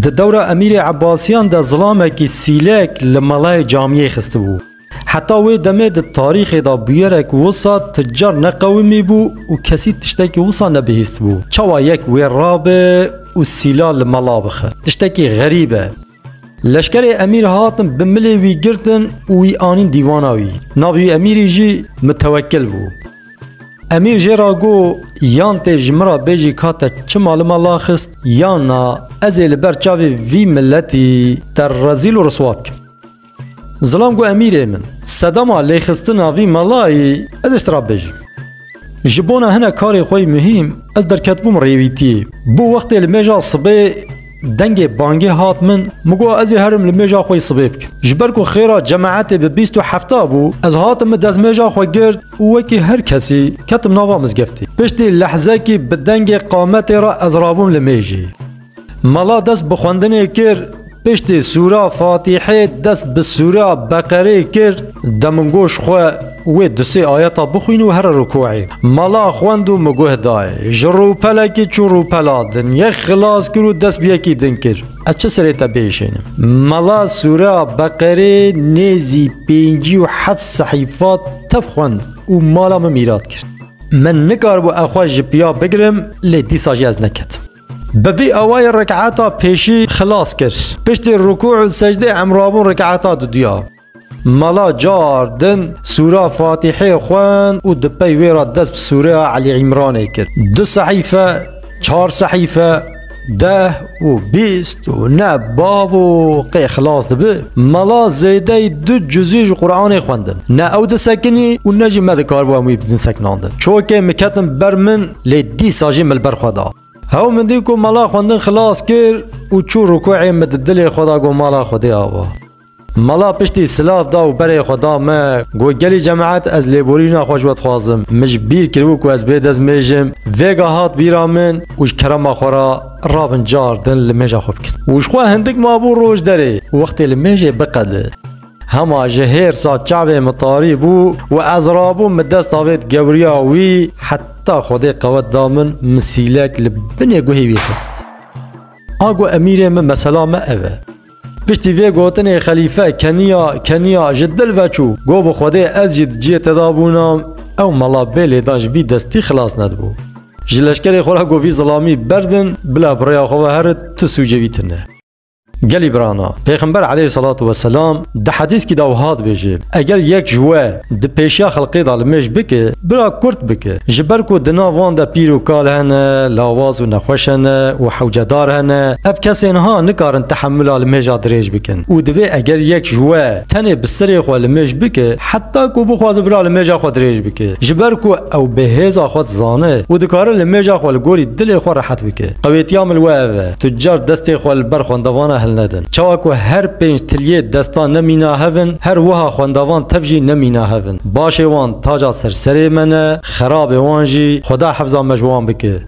Di dewra Emîrê Ebasiyan de zilamekî sîlek li melayê camiyê xistibû. Heta wê demê di tarîxê de bûyerek wisa ti car neqewimî bû û kesî tiştekî wisa nebihîstibû. Çawa yek wê rabe û sîla li mela bixe? Tiştekî xerîb e. Leşkerê emîr hatin bi milê wî girtin û wî anîn dîwana wî. Navê wî emîrî jî Mitewekkil bû. Emîr jê ra got, Yan tê ji min ra bêjî ka te çima li me la xist yan na ez ê li ber çavê vî miletî te rezîl û riswa bikim. Zilam got Emîrê min, sedema lêxistina vî melayî ez ê ji te re bibêjim. Ji bona hinek karê xwe yê muhîm ez derketibûm rêwîtiyê. Bû wextê li mêja sibê dengê bangê hat min, min got ez ê herim li mêja xwe yê sibê bikim. Ji ber ku xêra cemaetê bi bîst û hefta bû, ez hatim min dezmêja xwe girt û wekî her kesî ketim nava mizgeftê. Piştî lehzekî bi dengê qametê re ez rabûm li mêjê. Mala dest bi xwendinê kir, piştî sûra Fatîhê dest bi sûra Beqerê kir, demingoş xwe wê du sê ayeta bixwîn û here rûkuê. Mala xwend û miguh dayê. Ji rûpelekî çû rûpela din, yek xilas kir û dest bi yekî din kir. Ez çi serê te bihişênim? Mala sûra Beqerê nêzî pêncî û heft sehîfa tev xwend û mala min mîrat kir. Min nikaribû ew xwe ji piya bigirim lê dîsa jî ez neketim. Bi vî awayê rekata pêşî xilas kir. Piştî rukû û secdê emrabûn rekata duduya. Mala car din sûra Fatîhê xwend û di pey wê re dest bi sûreya Elî Îmranê kir. Du sehîfe, çar sehîfe, deh û bîst û ne bav û qê xilas dibi. Mala zêdeyî du cuzî ji Quranê xwendin. Ne ew disekinî û ne jî me dikaribû em wî bidin sekinandin. Çokê min ketin ber min. lê dîsa jî min li ber xwe da. Hew min dît ku mala xwendin xilas kir û çû rûkuê min di dilê xwe da got mala Xwedê ava. Mala piştî silav da û berê xwe da min, got gelî cemeet ez lêborîna xwe ji we dixwazim, min ji bîr kiribû ku ez bê dezmêjim, vêga hat bîra min û ji kerema xwe re rabin car din li mêja xwe bikin. Û ji xwe hindik mabû roj derê, wextê li mêjê biqede. Hema ji hêrsa çavê min tarî bû û ez rabûm min desta vê digewriya wî heta Xwedê qewet da min misîlek li binê guhê wî xist. A got Emîrê min mesela me ev e. Piştî vê gotinê xelîfe keniya keniya ji dil veçû got bi Xwedê ez jî di ciyê te de bûnam ew mela bê lêdan ji vî destî xilas nedibû. Ji leşkerê xwe re got vî zilamî berdin bila bi rêya xwe ve herin tu sûcê wî tune. Gelî birana, Pêxember eleyh selatu weselam di hedîskî de wiha dibêje, Eger yek ji we di pêşiya xelqê de li mêj bike, bira kurt bike. Ji ber ku di nav wan de pîr û kal hene, lawaz û nexweş hene û hewcedar hene, ev kesê niha nikarin tehemûla li mêja dirêj bikin û divê eger yek ji we tenê bi sirê xwe li mêj bike, heta ku bixwaze bira li mêja xwe dirêj bike. Ji ber ku ew bêhêza xwe dizane û dikare li mêja xwe li gorî dilê xwe rehet bike. Qewêtiya min li we ev e. Tucar destên xwe li ber xwendevana hilnedin. Çawa ku her pênc tiliyê destan ne mîna hev in, her wiha xwendevan tev jî ne mîna hev in. Başê wan taca ser serê me ne, xerabê wan jî, Xweda hefza me ji wan bike.